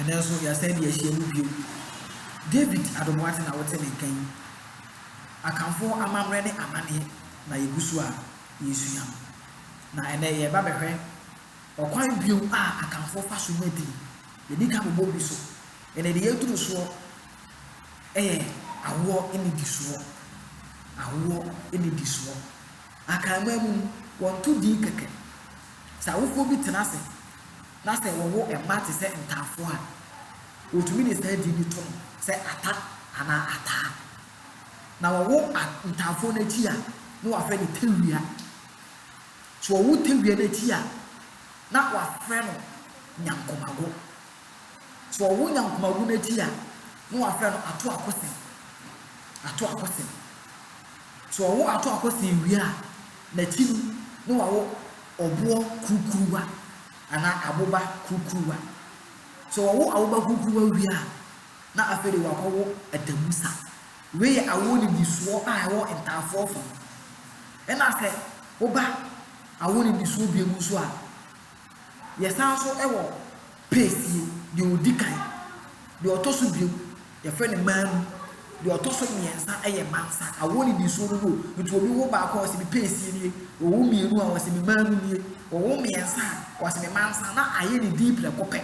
Ɛnnɛ nso, yɛasan de ahyia mu bio. David Adomoate na wote ne nka yi. Akanfoɔ amammerɛ ne amanneɛ na yɛgu so a yɛresua. Na ɛnnɛ yɛreba bɛhwɛ ɔkwan bio a Akanfoɔ fa so nya din. Yɛadi kan abobɔ bi so. Ɛnnɛ deɛ yɛaduru soɔ yɛ awoɔ nnidisoɔ. Awoɔ nnidisoɔ. Akanman mu no, wɔnto din kɛkɛ. Sɛ awofoɔ bi tena ase na sɛ wɔwo mma te sɛ Ntaafoɔ a, wɔtumi de saa din no to no sɛ Ata anaa Ataa. Na wɔwo A Ntaafoɔ no akyi a, na wɔafrɛ no Tawia. Sɛ wɔwo Tawia no akyi a, na wɔafrɛ no Nyankomago. Sɛ wɔwo Nyankomago no akyi a, na wɔafrɛ no Atoakosen. Atoakosen. So ɔwo ato akɔsɛɛ ewia a n'akyi no na wawo ɔboɔ kurukuruwa anaa aboba kurukuruwa? So ɔwo aboba kurukuruwa wie a na afei de wakɔwo atamusa? Wei yɛ awoɔ nnidisoɔ a ɛwɔ ntaafoɔ fam. Ɛna sɛ woba awoɔ nnidisoɔ biem nso a. Yɛsan nso wɔ paste yi, deɛ ɔdi kan, deɛ ɔtɔ so biom yɛfrɛ no manu, deɛ ɔtɔ so mmiɛnsa yɛ mansa. Awoɔ nnidisoɔ no no, nti obi wo baako a ɔse me paste nie, ɔwo mmienu a ɔse me manu nie, ɔwo mmiɛnsa a ɔse me mansa na ayɛ ne dii prɛko pɛ.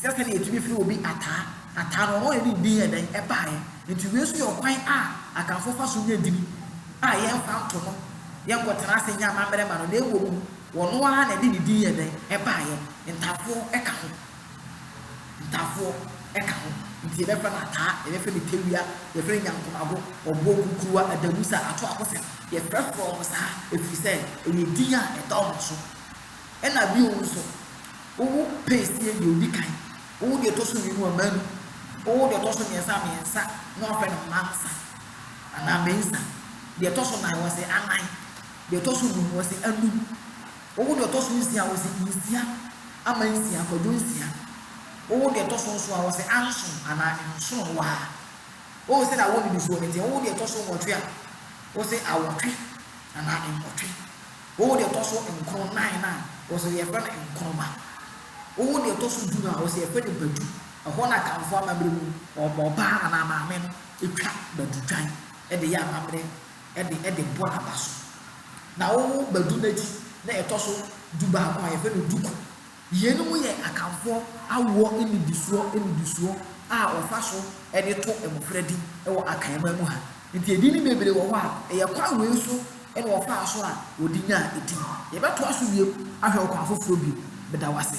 Sɛsɛ na yɛtumi frɛ obi Ataa. Ataa no, ɔno na ne din yɛ dɛn? Ɛbaeɛ. Enti wei nso yɛ ɔkwan a Akanfoɔ fa so nya din a yɛmfa nto no, yɛnkɔtena ase nyɛ amammerɛ mma no, na mmom ɔno ara na ɛde ne din yɛ dɛn? Ɛbaeɛ. Ntafoɔ ka ho. Ntafoɔ ka ho. Enti yɛbɛfrɛ no Ataa, yɛbɛfrɛ no Tewia, yɛfrɛ no Nyankomago, Ɔboɔ, Kukuruwa, Adamusa, Atoakosɛm. Yɛfrɛfrɛ wɔn saa ɛfiri sɛ ɛyɛ din a ɛda wɔn so. Ɛna bio nso, wowo pɛsie deɛ ɔdi kan, wowo deɛ ɛtɔ so mmienu a, manu, wowo deɛ ɛtɔ so mmiɛnsa a, mmiɛnsa, na wɔafrɛ no mansa anaa mensa, deɛ ɛtɔ so nan wɔse anan, deɛ ɛtɔ so num wɔse anum, wowo deɛ ɔtɔ so nsia wɔse nsia ama nsia, kwadwo nsia, wowo deɛ ɛtɔ so nso a wɔse anson anaa nsono waa. Wowo sɛdeɛ awoɔ nnidisoɔ no teɛ, wowo deɛ ɛtɔ so nwɔtwe a, wɔse awɔtwe anaa nwɔtwe. Wowo deɛ ɛtɔ so nkron, nnan, no a, ɔwɔ sɛ yɛfrɛ no nkroma. Wowo deɛ ɛtɔ so du no a, ɔwɔ sɛ yɛfrɛ no badu. Ɛhɔ na Akanfoɔ amammerɛ mu no, ɔbaa anaa maame no twa badutwan de yɛ amammerɛ de de bɔ n'aba so. Na wowo badu no akyi na ɛtɔ so dubaako a, yɛfrɛ no duku. Yeinom yɛ Akanfoɔ awoɔ nnidisoɔ nnidisoɔ a wɔfa so de to mmɔfra din wɔ Akanman mu ha. Nti edin bebree wɔ hɔ a, ɛyɛ kwan wei so na wɔfaa so a wɔde nyaa edin. Yɛbɛtoa so bio ahwɛ ɔkwan foforɔ bio. Meda wo ase.